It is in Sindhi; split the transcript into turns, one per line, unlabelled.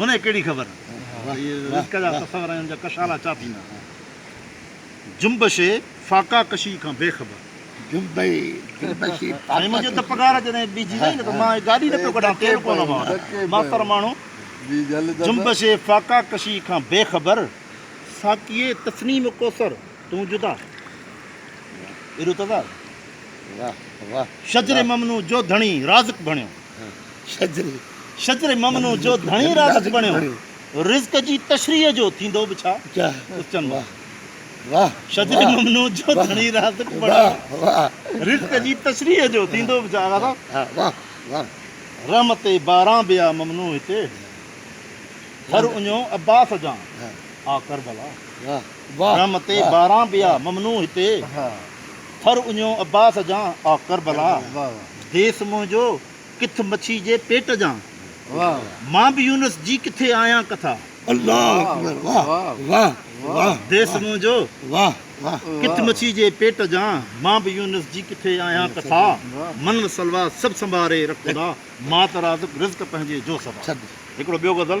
هن کي ڪهڙي
خبر ته اهي رزق جا تصور ۽ ان جا ڪشالا ڇا ٿيندا. جنبشي فاقا ڪشي کان بي خبر. جنبي
جنبشي فاقا ڪشي. سائين منهنجي ته
پگهار جڏهن ٻيهجي وئي نه ته مان هي گاڏي نه پيو ڪڍان تيل ڪونه هئان ماستر ماڻهو. جنبشي فاقا ڪشي کان بي خبر. ساقيء تسنيم ڪوثر. تون جدا ارتضا
شجر ممنون
جو ڌڻي رازق بڻيو شجر ممنون جو ڌڻي رازق بڻيو رزق جي تشريح جو ٿيندو به ڇا اچن واهه واهه
شجر ممنون
جو ڌڻي رازق بڻيو رزق
جي تشريح
جو ٿيندو به ڇا آغا صاحب واهه واهه
رحمت
باران به آ ممنون هتي هر اڃو عباس جان آ ڪربلا واهه رم
تي ٻارهن
ٻيا ممنون هتي ٿر اڃيو عباس جان آ ڪربلا ديس منهنجو ڪٿ مڇي جي پيٽ جان مان به يونس جي ڪٿي آهيان ڪٿا
ديس منهنجو ڪٿ مڇي جي
پيٽ جان مان به يونس جي ڪٿي آهيان ڪٿا من و سلوا سڀ سنڀاري رک خدا مات رازق رزق پنهنجي جو سدا هڪڙو ٻيو غزل.